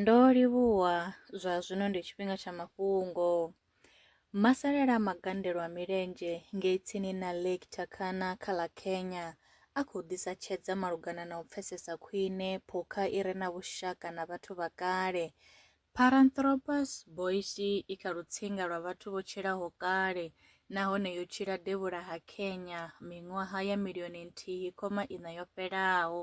Ndo livhuwa, zwa zwino ndi tshifhinga tsha mafhungo. Masalela a magandelo a milenzhe ngei tsini na Lake Turkana kha ḽa Kenya a khou ḓisa tshedza malugana na u pfesesa khwine phukha i re na vhushaka na vhathu vha kale. Paranthropus boisei i kha lutsinga lwa vhathu vho tshilaho kale nahone yo tshila devhula ha Kenya miṅwaha ya milioni nthihi khoma iṋa yo fhelaho.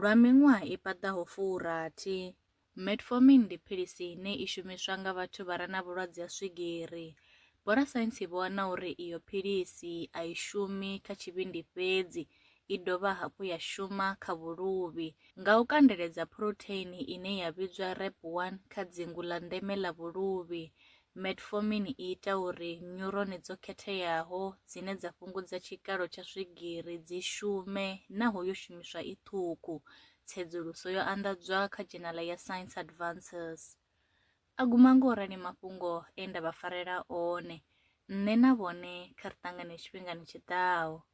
Lwa miṅwaha i paḓaho furathi, metformin ndi philisi ine i shumiswa nga vhathu vha re na vhulwadze ha swigiri. Vhorasaintsi vho wana uri iyo philisi a i shumi kha tshivhindi fhedzi, i dovha hafhu ya shuma kha vhuluvhi. Nga u kandeledza phurotheini ine ya vhidzwa REP1 kha dzingu ḽa ndeme ḽa vhuluvhi, Metformin i ita uri nyurone dzo khetheaho dzine dza fhungudza tshikalo tsha swigiri dzi shume naho yo shumiswa i ṱhukhu, tsedzuluso yo anḓadzwa kha dzhenala ya Science Advances. A guma nga u rali mafhungo e nda vha farela one, nṋe na vhone kha ri ṱangane tshifhingani tshi ḓaho.